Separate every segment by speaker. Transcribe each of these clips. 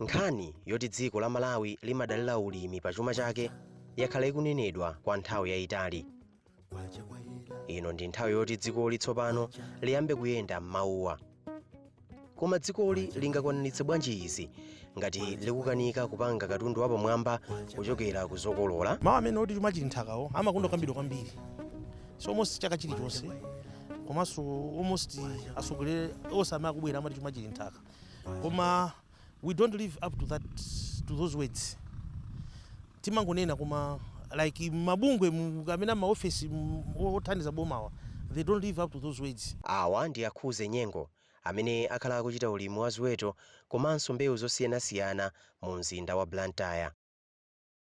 Speaker 1: nkhani yoti dziko la malawi limadalira ulimi pa chuma chake yakhala ikunenedwa kwa nthawi yayitali ino ndi nthawi yoti dzikoli tsopano liyambe kuyenda m'mawuwa koma dzikoli lingakwaniritse bwanji izi ngati likukanika kupanga katundu wapamwamba kuchokera ku zokolola mawu amene oti chuma chili
Speaker 2: nthakawo amakondokambidwa kwambiri so almost chaka chilichonse komanso almost atsogoleri onse amene akubwera amati chuma chili nthaka koma we don't live up to that to those words timangonena koma like mabungwe mu- kapena maofesi mu- othandiza bomawa they don't live up to those words Awa ndi a
Speaker 1: Khuze Nyengo amene akhala akuchita ulimi wa ziweto komanso mbewu zosiyanasiyana mu mzinda wa Blantyre.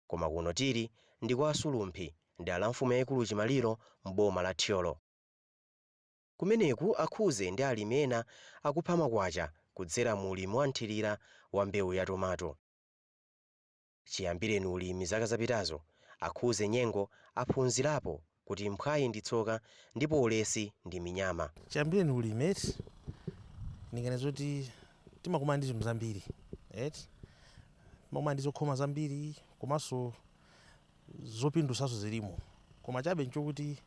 Speaker 1: koma kuno tili ndi kwa a Sulumphi, m'dera la mfumu yaikulu Chimaliro m'boma la Thyolo. Kumeneku a Khuze ndi alimi ena akupha makwacha kudzera mu ulimi wa mthirira wa mbewu ya tomato. Chiyambireni ulimi zaka zapitazo, a Khuze Nyengo aphunzirapo kuti mphwayi ndi tsoka ndipo ulesi ndi minyama. Chiyambireni ulimi eti,
Speaker 2: ndinganene zoti timakumana ndi zinthu zambiri eti, timakumana ndi zokhoma zambiri komanso zopindutsanso zilimo, koma chabe nchokuti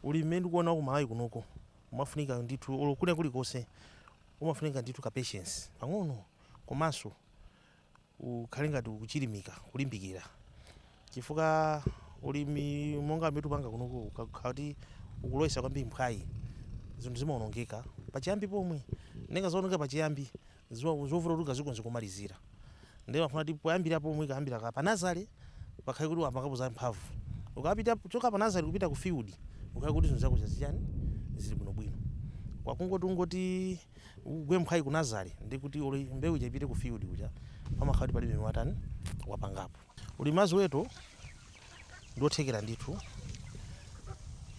Speaker 2: ulimi mmene ndikuona wa ku Malawi kunoko umafunika ndithu, olo kwina kulikonse umafunika ndithu ka patience pang'ono komanso ukhale ngati ukuchilimika kulimbikira chifukwa ulimi monga mmene tupanga kunoku ukakhala kuti ukulowetsa kwambiri mphwayi zinthu zimaonongeka pachiyambi pomwe nde ngati zaonongeka pachiyambi zo- zovuta kuti ukazikonze komalizira ndiye umafuna kuti poyambira pomwe kuyambira panazale pakhale kuti wapangapo za mphamvu ukapita kuchoka panazale kupita ku field ukhale kuti zinthu zako zazichani zili bwinobwino koma kungoti ungoti Ugwe mphwayi ku nazale ndi kuti olo mbewu ija ipite ku field kuja pamakhala kuti palibe watani wapangapo. Ulimi wa ziweto ndi othekera ndithu.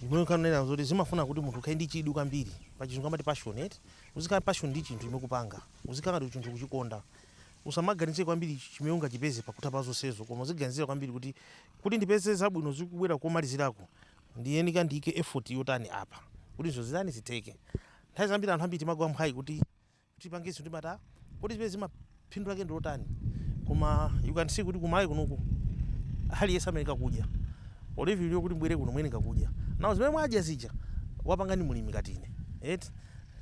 Speaker 2: Zimene kanena zoti zimafuna kuti munthu ukhale ndi chidwi kwambiri. Pa chizungu amati passion eti. Uzikhala passion ndi chinthu chimene ukupanga. Uzikhala ngati chinthu ukuchikonda. Usamaganize kwambiri chimene ungachipeze pakutha pa zonsezo koma uziganizira kwambiri kuti, kuti ndipeze zabwino zikubwera komaliziraku ndiyenika ndiike effort yotani apa kuti zinthu zitani zitheke. Nthawi zambiri anthu ambiri timagwa mphwayi kuti tipange zinthu timati kodi zimenezi phindu lake ndi lotani koma you can see kuti ku Malawi kunoku aliyense amayeneka kudya or even inuyo kuti mubwere kuno muyeneka kudya now zimene mwadya zija wapanga ndi mlimi ngati ine eti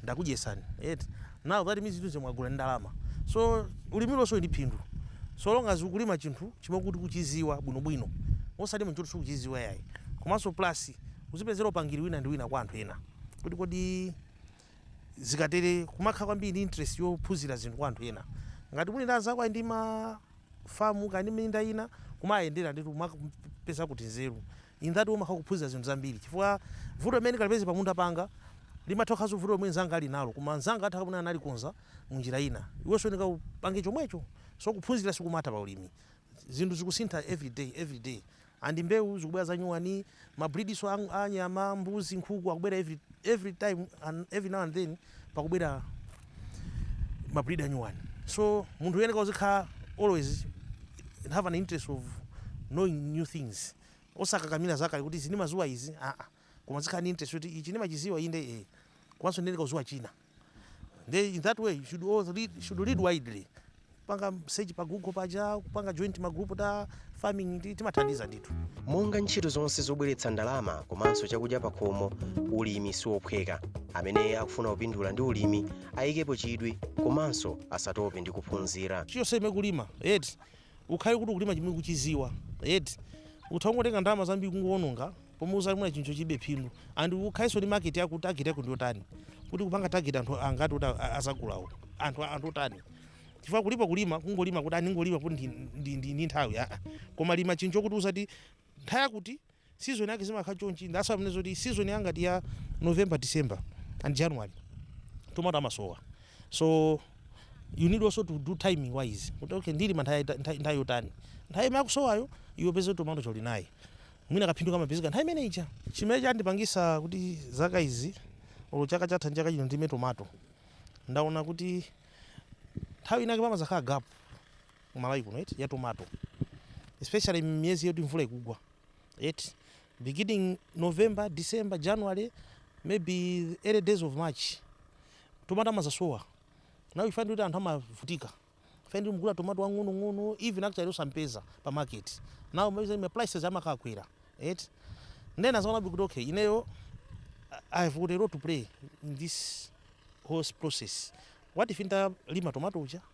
Speaker 2: ndakudyetsani eti now that means zinthu zimene mwagula ndi ndalama so ulimi uliwonse uli ndi phindu so long as ukulima chinthu chimene kuti ukuchidziwa bwinobwino osati chinthu choti sukuchidziwa yayi komanso plus uzipezera upangiri wina ndi wina kwa anthu ena kuti kodi zikatere kumakhala kwambiri ndi interest yophunzira zinthu kwa anthu ena ngati uli ndi anzako ali ndi ma famu kaya ndi minda ina kumayendera nditu kumapeza kuti nzeru in that way umakhala kuphunzira zinthu zambiri chifukwa vuto limene ndikalipeze pa munda panga limatha kukhalanso vuto lomwe mnzanga ali nalo koma mnzanga atha kapena analikonza mu njira ina iwenso unika upange chomwecho so kuphunzira sikumatha pa ulimi zinthu zikusintha every day every day And mbewu zikubwera zanyuwani, ma breedso a nyama, mbuzi, nkhuku akubwera every time and every now and then pakubwera ma breed anyuwani. So munthu uyeneka uzikhala always have an interest of knowing new things. Osakakamira zakale kuti izi ndimaziwa izi aah koma uzikhala ndi interest yoti ichi ndimachiziwa inde eeh komanso ndiyeneka kuziwa china. Nde in that way you should read, should read widely. Kupanga search pa Google paja, kupanga join ma group ta farming timathandiza ndithu. monga ntchito zonse
Speaker 1: zobweretsa ndalama komanso chakudya pakhomo ulimi siwophweka amene akufuna kupindula ndi ulimi ayikepo chidwi komanso asatope ndi kuphunzira Choose zimene ukulima,
Speaker 2: eti ukhale kuti ukulima chimene ukuchiziwa eti utha kungotenga ndalama zambiri kungowononga pomwe uzalime mwina chinthu chopanda phindu and ukhaleso ndi market yakuti target yako ndiyotani kuti ukupanga target anthu angati oti azagulawo anthu anthu otani chifukwa kulipo kulima kungolima kuti ndingolima kuti ndi, ndi, ndi, ndi nthawi aa koma lima chinthu chokuti uzati nthawi yakuti Season yake zimakhala chonchi that's why amanena zoti season yangati ya November, December and January tomato amasowa so you need also to do timing wise kuti okay ndilima nthawi yaita- nthawi nthawi yotani nthawi imene akusowayo iwe upeze tomato uli naye mwina kaphindu kamapezeka nthawi imene ija chimene chandipangisa kuti zaka izi olo chaka chatha ndi chaka chino ndilime tomato ndaona kuti nthawi inake pamazakhala gap ku Malawi kuno eti ya tomato especially miyezi yoti mvula ikugwa eti beginning november december january maybe early days of march tomato amazasowa now you find kuti anthu amavutika you find mugula tomato wang'onong'ono even actually osampeza pa market now ma prices amakakwera eti nde ndinazaona kuti okay ineyo I have got a role to play in this whole process. What if nditalima tomato uja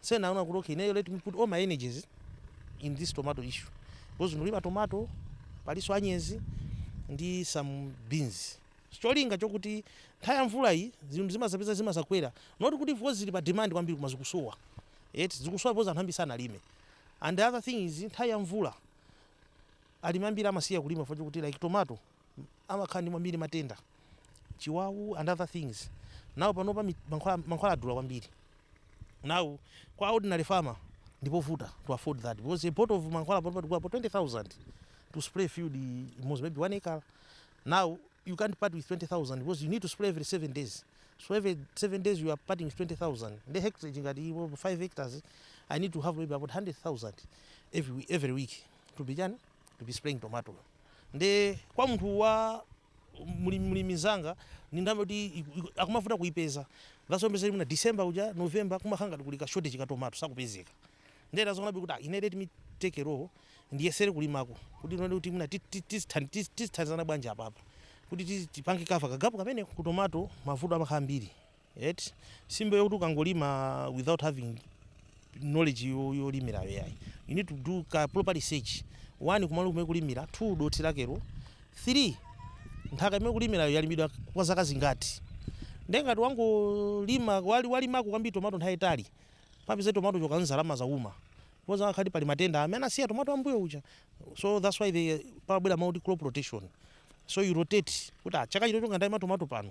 Speaker 2: So ndaona kuti okay ineyo let me put all my energies in this tomato issue because ndilima tomato palinso anyezi ndi some beans cholinga chokuti nthawi ya mvula iyi zinthu zimazapezeka zimazakwera not kuti because zili pa demand kwambiri koma zikusowa yet zikusowa because anthu ambiri sanalime and the other thing is nthawi ya mvula alimi ambiri amasiya kulima chifukwa chokuti like tomato amakhala ndi kwambiri matenda chiwawu and other things now panopa mankhwala mankhwala adula kwambiri now kwa ordinary farmer ndipovuta to afford that because a bottle of mankhwala panopa tikugula for 20000 to spray field imodzi maybe one acre now you can't part with 20000 because you need to spray every 7 days so every 7 days you are parting with 20000 the hectare ngati 5 hectares i need to have maybe about 100000 every every week to be done to be spraying tomato Nde kwa munthu wa mlimi mlimi nzanga ndi ndalama yoti akumavuta kuipeza. That's why umapeza kuti mwina December uja, November kumakhala ngati kuli ka shortage ka tomato, sakupezeka. Nde ndazionabe kuti ah ine let me take a role, ndiyesere kulimako kuti tione kuti mwina ti ti tizithan tizi tizithandizana bwanji apapa kuti tizi tipange cover ka gap kameneko. Ku tomato mavuto amakhala ambiri. eti si mbewu yokuti ukangolima without having knowledge yo- yolimirayo yayi you need to do ka proper research one kumalo kumene ukulimira two dothi lakelo three nthaka imene ukulimirayo yalimidwa kwa zaka zingati nde ngati wangolima wali- walimako kwambiri tomato nthawi yaitali upeza tomato ukadzala adzauma because akhala kuti pali matenda amene asiya tomato ambuyo uja so that's why there pabwera mawu oti crop rotation so you rotate kuti ah, chaka chino ngati ndalima tomato pano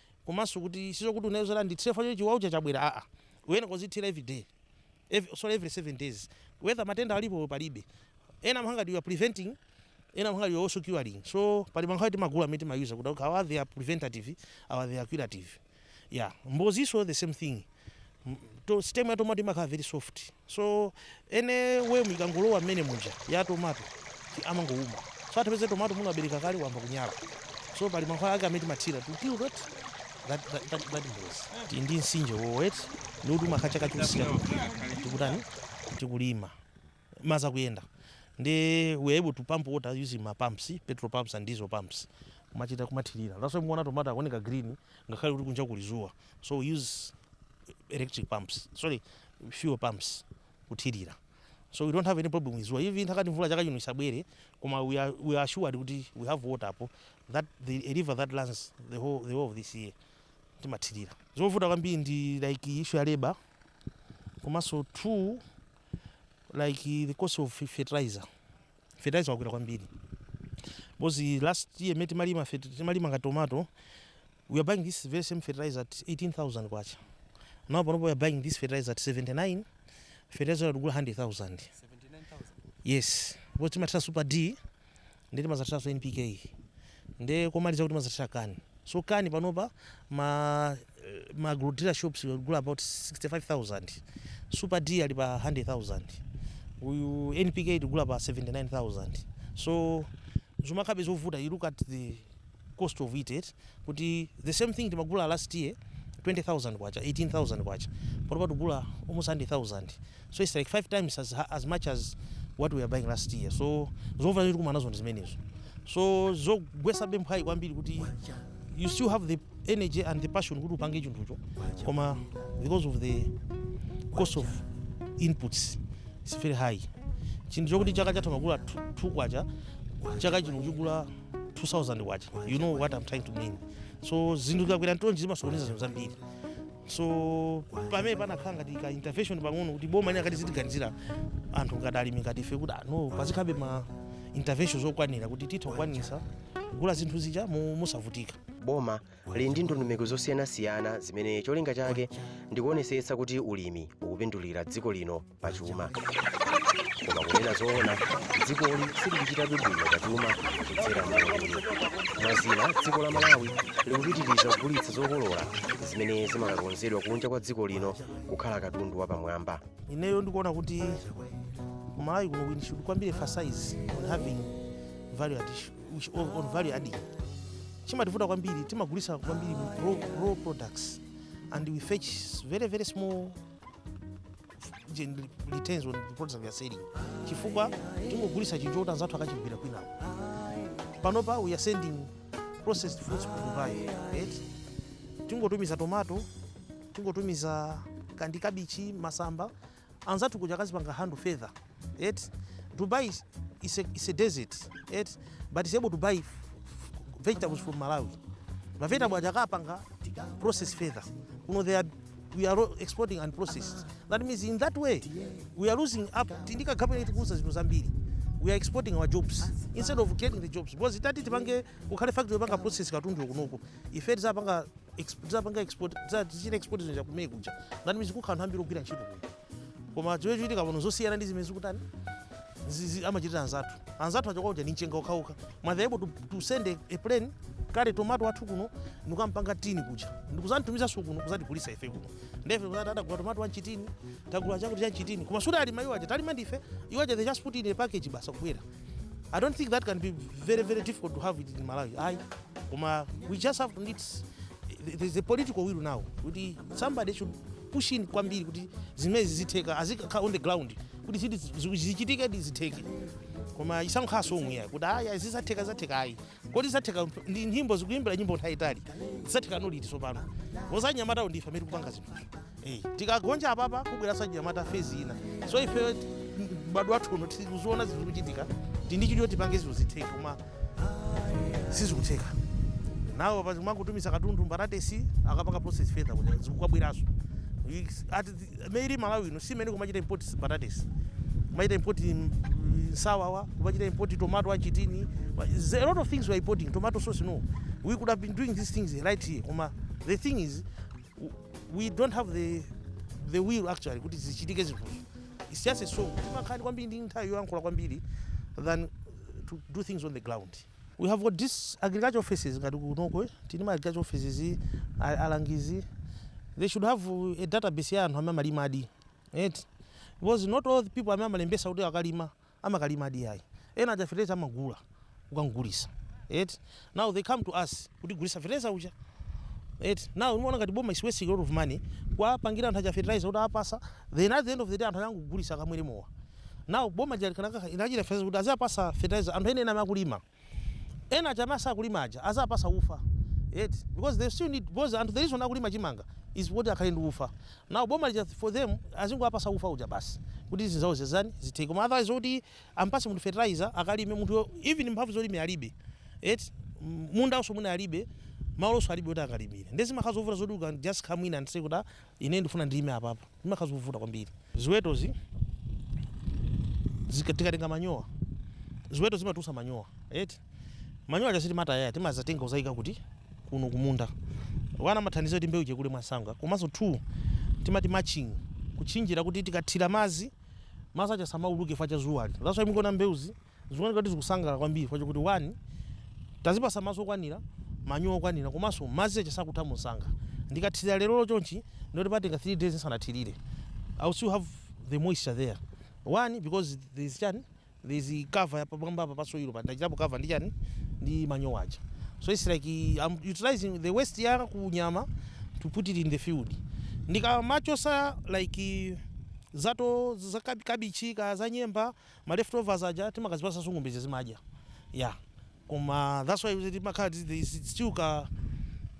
Speaker 2: komanso kuti sizokuti unena zoti ndithire pamene chiwawu chija chabwera aa uyeneka uzithira everyday every, sorry, every 7 days whether matenda alipo palibe ena amapanga ngati you are preventing ena amapanga ngati you are also curing so pali mankhwala timagula amene timayuza kuti okay, awa they are preventative awa they are curative yeah mbozinso the same thing to stem ya tomato imakhala very soft so anyway ikangolowa mmene muja ya tomato amangouma so atapeze tomato muno abereka kale ayamba kunyala so pali mankhwala ake amene timathira to kill that that that that, that mbozi Ti- ndi mtsinje woti ndi kuti umakhala chaka chonse tikutani tikulima madzi akuyenda ndi we are able to pump water using ma pumps petrol pumps and diesel pumps kumachita kumathirira that's why mukuona tomato akuoneka green ngakhale kuti kunja kuli zuwa so we use electric pumps sorry fuel pumps kuthirira so we don't have any problem with zuwa even atati mvula chaka chino isabwere koma we are, we are assured kuti we have water apo that's the a river that runs the whole, the whole of this year timathirira zovuta kwambiri ndi like issue ya labor komanso two like the cost of fertilizer fertilizer wakwera kwambiri because last year meti malima fet- timalima nga tomato we are buying this very same fertilizer at 18000 kwacha now panopo we are buying this fertilizer at 79 fertilizer yatugula 100000 yes because timatira super d nde timazathiranso NPK nde komaliza kuti timazathira CAN so CAN panopa ma ma agrodealer shops tikugula about 65000 super D ali pa 100000 uyu NPK tikugula pa 79000 so zimakhalabe zovuta you look at the cost of it eti kuti the same thing timagula last year K20,000 K18,000 panopa tikugula almost K100,000 so its like 5 times as ha as much as what we were buying last year so zovuta zimene tikumana nazo ndi zimenezo so zogwetsa mphwayi kwambiri kuti you still have the energy and the passion kuti upange chinthucho koma because of the cost of inputs its very high chinthu chokuti chaka chatha umagula 2 kwacha chaka chino kuchigula 2000 kwacha you know what i'm trying to mean so zinthu zikakwera ntonji zimasokoneza zinthu zambiri so pamene panakhala ngati ka intervention pang'ono kuti boma linakati zitiganizira anthu ngati alimi ngati ife kuti ano pazikhabe ma intervention zokwanira kuti titha kukwanisa kugula zinthu zija mu- mosavutika boma
Speaker 1: lili ndi ndondomeko zosiyanasiyana zimene cholinga chake ndi kuonesetsa kuti ulimi ukupindulira dziko lino pa chuma koma kunena zoona dzikoli silikuchitabe bwino pa chuma kudzera mu ulimi mwazina dziko la malawi likupitiriza kugulitsa zokolola zimene zimakakonzedwa kunja kwa dziko lino kukhala katundu wapamwamba ineyo ndikuona
Speaker 2: kuti kumalawi kuno we should kwambiri emphasize on having value addition on value adding chimativuta kwambiri timagulisa kwambiri raw, raw products and we fetch very very small gen- returns on the products that we are selling chifukwa tingogulisa chinthu choti anzathu akachigwira kwinawo panopa we are sending processed foods ku dubai right? tingotumiza tomato tingotumiza kandi kabichi masamba anzathu kuja akazipanga handle feather eti dubai is is a, is a desert eti but is able to buy f- f- vegetables from malawi mavegetable aja akapanga process feather kuno they are we are all exporting and processed that means in that way we are losing up tindika gapena tikuuza zinthu zambiri we are exporting our jobs instead of creating the jobs because itati tipange kukhale factory yopanga process katundu kunoku ife tizapanga exp- tizapanga export tiza- tichite export zinthu zakumene kuja ngati mizi kukhala anthu ambiri ogwira ntchito kuja koma zimene zikuchitika pano zosiyana ndi zimene zikutani zimene amachitira anzathu anzathu achoka kuja ndi mchenga okhaokha koma they able to, to send a, a plane katenge tomato wathu kuno ndikukampanga tini kuja ndikuzanitumizaso kuno kuzatigulisa ife kuno ndefe kuzati adagula tomato wanchitini tagula chakuti chanchitini koma sikuti alima iwo aja talima ndife iwo aja they just put in a package basi kubwera i don't think that can be very very difficult to have it in malawi ayi koma we just have to need there's a political will now kuti somebody should push in kwambiri kuti zimezi zitheka azikhala on the ground kuti ziti zichitike kuti zitheke koma isakhaleso omweya kuti aya zizatheka zizatheka ayi kodi zizatheka ndi nyimbo takuyimbira nyimbo nthawi yaitali zizatheka liti tsopano achinyamatawo ndife amene tikupanga zinthuzo Eh, tikagonja apapa kubweraso achinyamata phase ina so ife mbadwo wathu uno tikuziona zinthu zikuchitika tili ndi chidwi tipange zinthu zitheke koma sizikutheka now pati kumangotumiza katundu mbatatesi akapanga process further kuti zikubweraso maybe malawi ino si imene kumachita import mbatatesi kumachita import mm, nsawawa kumachita import tomato achitini There's a lot of things we are importing tomato sauce no we could have been doing these things right here koma the thing is we don't have the, the will actually kuti zichitike zinthuzo it's just a song timakhani kwambiri ndi nthawi yoyankhula kwambiri than to do things on the ground we have got these agriculture offices ngati kunoko eh, tili ma agriculture offices a- alangizi they should have uh, a database ya anthu amene amalimadi right because not all the people amene amalembesa kuti akalima amakalimadi yayi ena aja fertilizer amagula kukagulisa eti now they come to us kutigulisa fertilizer uja eti now umaona ngati boma is wasting a lot of money kuwapangira anthu aja fertilizer kuwapasa then at the end of the day anthu angogulisa akamwere mowa now boma lija likanakayinjira fertilizer kuti aziwapasa fertilizer anthu ene ene amakulima ena aja amene asakulima aja aziwapasa ufa eti because they still need because anthu the reason akulima chimanga is kuti akhale ndi ufa now boma lija for them azingowapasa ufa uja basi kuti zinzawo zitani zitheke koma otherwise zoti ampase munthu fertilizer akalime munthuyo even mphamvu zolimira alibe eti mundawonso mwina alibe malonso alibe kuti akalimire nde zimakhala zovuta zoti you can just come in and say kuti ah ine ndifuna ndilime apapa zimakhala zovuta kwambiri. Ziwetozi zika- tikatenga manyowa ziweto zimatulusa manyowa eti manyowa aja sitimataya timazatenga kuzaika kuti kuno kumunda one amathandiza kuti mbewu ija ikule mwansanga komanso two timati mulching kutchinjira kuti tikathira madzi madzi aja asamauluke chifukwa cha dzuwali that's why mukuona mbewuzi Zikuoneka kuti zikusangalala kwambiri chifukwa chokuti 1 Tazipatsa madzi okwanira, manyowa okwanira komanso madzi aja sakutha mwansanga. Ndikathirira lerolo chonchi ndiye kuti patenga 3 days ndisanathirire. I will still have the moisture there 1 because there is chani, there is cover ya pamwambapa pa soil pa ndachitapo cover ndi chani, ndi manyowa aja. So it's like am utilizing the waste ya ku nyama to put it in the field. Ndikamachotsa like za to, za kabichi kaya za nyemba. ma leftovers aja timakazipasanso ng'ombe zija zimadya yeah koma that's why we timakhala this there is still ka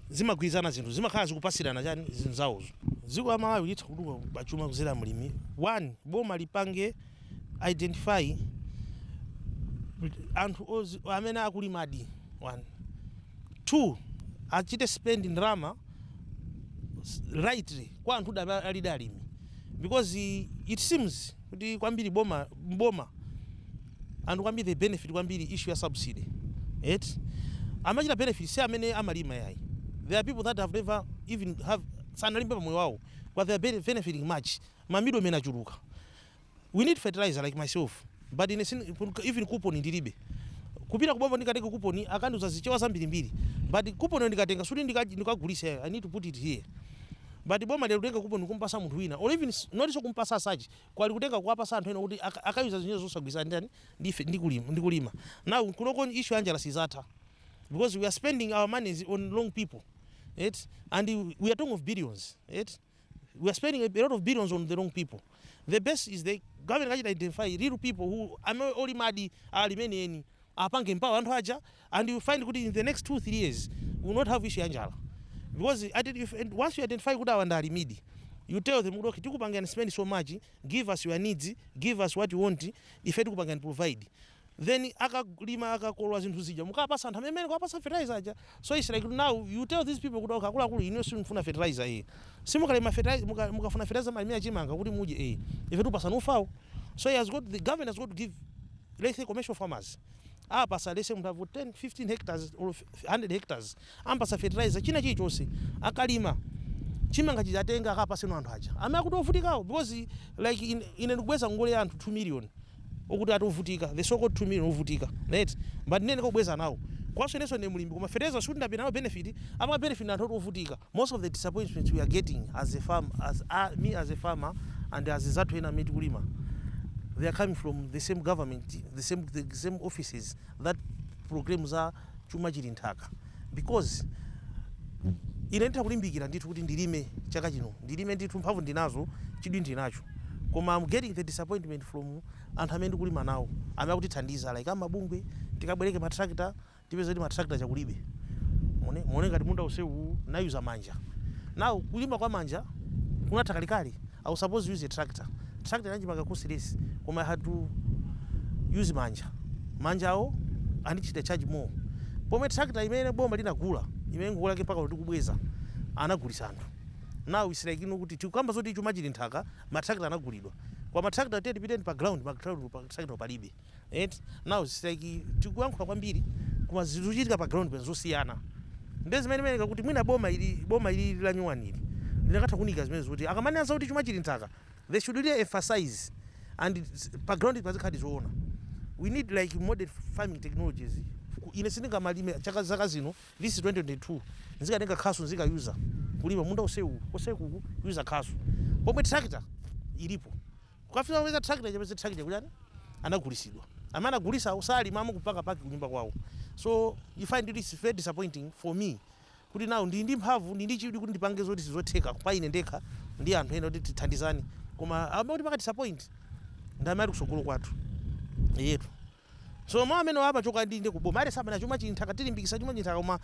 Speaker 2: zimagwirizana zinthu zimakhala zikupasirana chani zinthuzo dziko la Malawi litha kutukuka pa chuma kudzera mu ulimi one boma lipange identify anthu amene akulimadi one two achite spend ndalama rightly kwa anthu amene alidi alimi because it seems kuti kwambiri boma m'boma anthu kwambiri they benefit kwambiri issue ya subsidy eti amachita benefit si amene amalima yayi there are people that have never even have sanalimepo pamoyo wawo but they are bene- benefiting much ma middlemen achuluka we need fertilizer like myself but ine sin- kun- even coupon ndilibe kupita kuboma ndikatenge coupon akandiuza zichewa zambirimbiri but coupon ndikatenga sikuti ndika- ndikagulise i need to put it here but boma lero kutenga coupon kumpasa munthu wina or even not kumpasa as such kuli kutenga kuwapasa anthu ena kuti aka aka user zinazo zosagwirizana ndi chani ndi ife ndi kulima ndi kulima now kunoko issue ya njala sizatha because we are spending our monies on wrong people right and we are talking of billions right we are spending a lot of billions on the wrong people the best is the government ikachita identify real people who amene olimadi alimene enieni apange empower anthu aja and you find kuti in the next two three years we will not have issue ya njala because at if and once you identify kuti awa ndi alimidi you tell them kuti okay tikupangirani spend so much give us your needs give us what you want ife tikupangirani provide then akalima akakolola zinthu zija mukapasa anthu amene mukuwapasa fertilizer aja so it's like now you tell these people kuti okay akuluakulu inu simufuna fertilizer eh simukalima fertilizer muka, mukafuna fertilizer mulimire chimanga kuti mudye eh ife tikupasani ufawo so he has got the government has got to give let's say commercial farmers Apase let's say munthu wa 10 15 hectares olo 100 hectares ampasa fertilizer china chilichose akalima chimanga chija atenge akapase anthu aja amene akuti ovutikawo because like in, ine ndikubweza ngongole ya anthu 2 million okuti ati ovutika the so called 2 million ovutika right but ine ndikubweza nawo komanso inenso ndine mlimi koma fertilizer sikuti ndapanga nawo benefit apa benefit ndi anthu oti ovutika Most of the disappointments we are getting as a farm as a me as a farmer and azinzathu ena amene tikulima they are coming from the same government the same the same offices that proclaim za chuma chili nthaka because ine nditha kulimbikira ndithu kuti ndilime chaka chino ndilime ndithu mphamvu ndinazo chidwi ndinacho koma am getting the disappointment from anthu amene ndikulima nawo amene akutithandiza like amabungwe tikabwereke ma tractor tipeza kuti ma tractor aja kulibe muone muone ngati munda wonsewu ndayuza manja now kulima kwa manja kunatha kalekale I was supposed to use a tractor tractor ikanandipanga cost less koma i had to use manja manjawo andichita charge more pomwe tractor imene boma linagula imene ngongole yake mpaka tikubweza anagulisa anthu now it's like ino kuti tikukamba zoti chuma chili nthaka ma tractor anagulidwa koma ma tractor tiye tipiteni pa ground pa ground ma tractor palibe et now its like tikuyankhula kwambiri koma zinthu zikuchitika pa ground ndi zosiyana nde zimene ndimanena kuti mwina boma ili boma ili lanyuwani ili likanatha kuunika zimenezo kuti akamanena zakuti chuma chili nthaka they should really emphasize and pa ground pazikhaladi zoona we need like modern farming technologies. Ine sindingamalime zaka zaka zino this is 2022 nzikatenga khasu nzika user kulima munda onse uwu wonse ku user khasu pomwe tractor ilipo. Kukafika upeza tractor ukapeza tractor kuchani anagulisidwa amene anagulisawo salimanso kupanga park kunyumba kwawo so you find kuti its very disappointing for me kuti now ndili ndi mphamvu ndili ndi chidwi kuti ndipange zoti sizotheka pa ine ndekha ndi anthu ena kuti tithandizane koma amangotipanga disappoint ndi amene ali kusogolo kwathu eyetu. Tsono mau amene aja amachoka ndi ku boma. Aliyense amanena chuma chili m'nthaka, tilimbikitsa chuma chili m'nthaka koma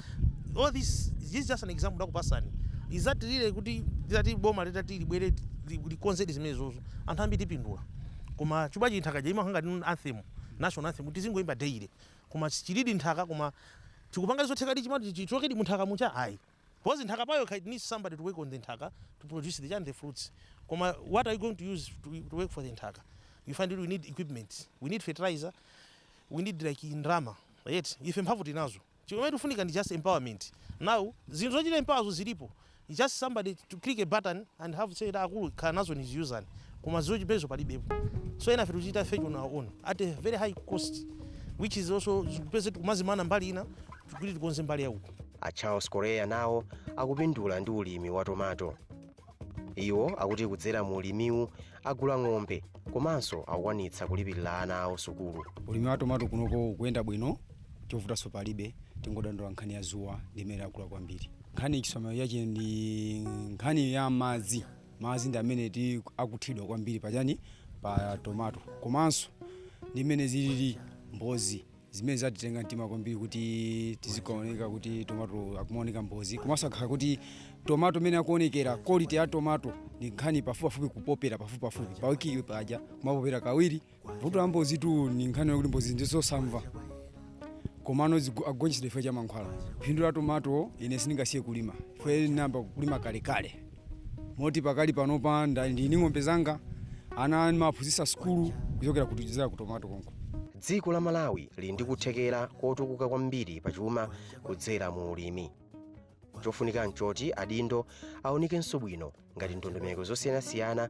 Speaker 2: all this this is just an example ndakupasani. Is that really kuti litati boma litati libwere likonzedi zimenezozo anthu ambiri tipindula. Koma chuma chili m'nthaka ija imakhala ngati anthem, national anthem kuti tizingoimba daily koma chilidi m'nthaka koma tikupangadi zothekadi chumacho chichokedi mu nthaka muja? Ayi. Because nthaka payokha it needs somebody to work on the nthaka to produce the chani the fruits koma what are you going to use to to work for the nthaka you find kuti we need equipments we need fertilizer we need like ndalama right ife mphamvu tili nazo chimene tikufuna ndi just empowerment now zinthu zochita empower zo zilipo It's just somebody to click a button and have said kuti akulu khala nazo niziuzani koma zochipezazo palibepo so enafe tikuchita fetch on our own at a very high cost which is also zikupezeka tikumazimana mbali ina kuti tikonze mbali yauko A Charles
Speaker 1: Correa nawo akupindula ndi ulimi wa tomato. Iwo akuti kudzera mu ulimiwu agula ng'ombe komanso akukwanitsa kulipirira ana awo sukulu. ulimi wa tomato kunoko
Speaker 3: ukuyenda bwino chovutanso palibe tingodandaula nkhani ya zuwa ndi imene yakula kwambiri nkhani chisamaliro chake ndi nkhani ya madzi madzi ndi amene ti akuthiridwa kwambiri pachani pa tomato komanso ndi mmene zilili mbozi zimene zatitenga mtima kwambiri kuti tizikaoneka kuti tomato akumaoneka mbozi komanso kukhala kuti tomato imene akuonekera quality ya tomato ni nkhani pafupipafupi kupopera pafupipafupi pawiki paja kumapopera kawiri vuto la mbozi tu ni nkhani yakuti mbozi ndizosamva komano zigu- amagonjetsedwa chifukwa cha mankhwala phindu la tomato ine sindingasiye kulima ife ndinayamba kulima kalekale moti pakali panopa nda- ndili ndi ng'ombe zanga ana ndimaphunzitsa sukulu kuchokera kudzera ku tomato konko dziko la malawi
Speaker 1: lili ndi kuthekera kotukuka kwambiri pa chuma kudzera mu ulimi chofunika nchoti adindo aunikenso bwino ngati ndondomeko zosiyanasiyana